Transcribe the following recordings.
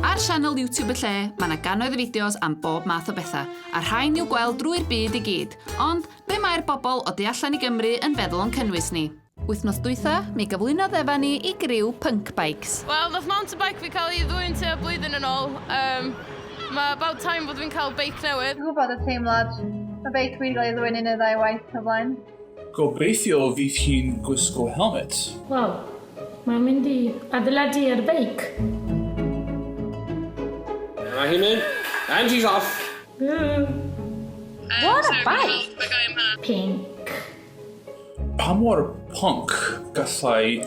Ar sianel YouTube y lle, mae yna gannoedd o fideos am bob math o bethau, a rhain i'w gweld drwy'r byd i gyd. Ond, be mae'r bobl o du allan i Gymru yn feddwl o'n cynnwys ni? Wythnos dwytha, mi gyflwynodd efa ni i griw Punk Bikes. Wel, nath mountain bike fi cael ei ddwy'n tua blwyddyn yn ôl. Um, mae about time bod fi'n cael beic newydd. Dwi'n gwybod y teimlad. Mae beic fi wedi cael ei ddwy'n un neu ddau waith o flaen. Gobeithio fydd hi'n gwisgo helmet. Waw, mae'n mynd i adeiladu ar beic! Dyma hi'n mynd, and she's off! Ww! What a bike! Pink. Pa mor punk gallai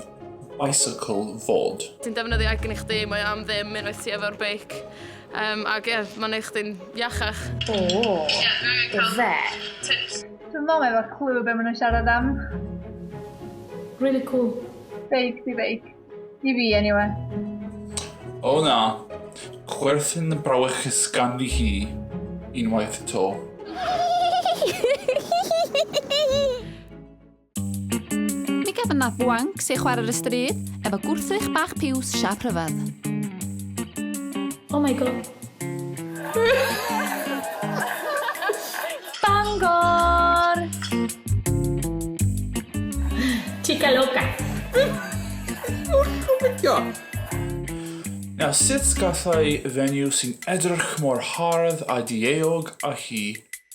bicycle fod? Ti'n defnyddio egni chdi, mae o am ddim unwaith ti efo'r beic. Yym ac ie ma'n neu' chdi'n iachach. Ooh ife? Dwi'm me'wl efo clue be' ma' nw'n siarad am. Rili cŵl. Fake 'di fake. I fi eniwe. O na! Chwerthin y brawychus ganddi hi unwaith 'to. Mi gaf yna bwanc sy'n chwarae'r ystryd efo gwrthrych bach piws siap rhyfedd. Oh my god. Bangor! Chica loca. Nawr, sut gallai fenyw sy'n edrych mor hardd a dieog a hi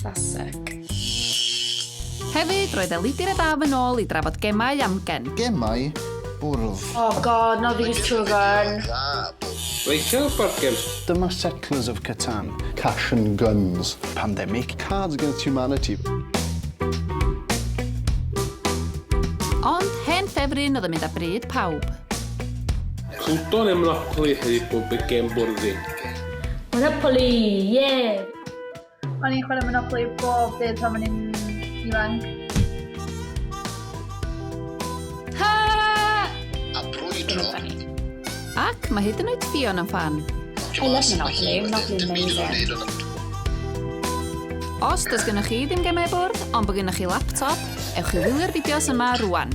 Fasek. Hefyd, roedd Elidir a Daf yn ôl i drafod gemau amgen. Gemau bwrdd. Oh god, not these two again. Rachel Burkins. Dyma Settlers of Catan. Cash and Guns. Pandemic. Cards Against Humanity. Ond hen ffefryn oedd yn mynd â bryd pawb. Cwton yn Monopoly hefyd bod y gem bwrdd ddim. Monopoly, yeah! O'n i'n chwarae Monopoly bob dydd pan o'n i'n ifanc. Ha! A brwydro. Ac mae hyd yn oed Fion yn fan. I love Monopoly, Monopoly amazing. Os does gennych chi ddim gemau bwrdd, ond bod gennych chi laptop, ewch i wylio'r fideos yma rwan.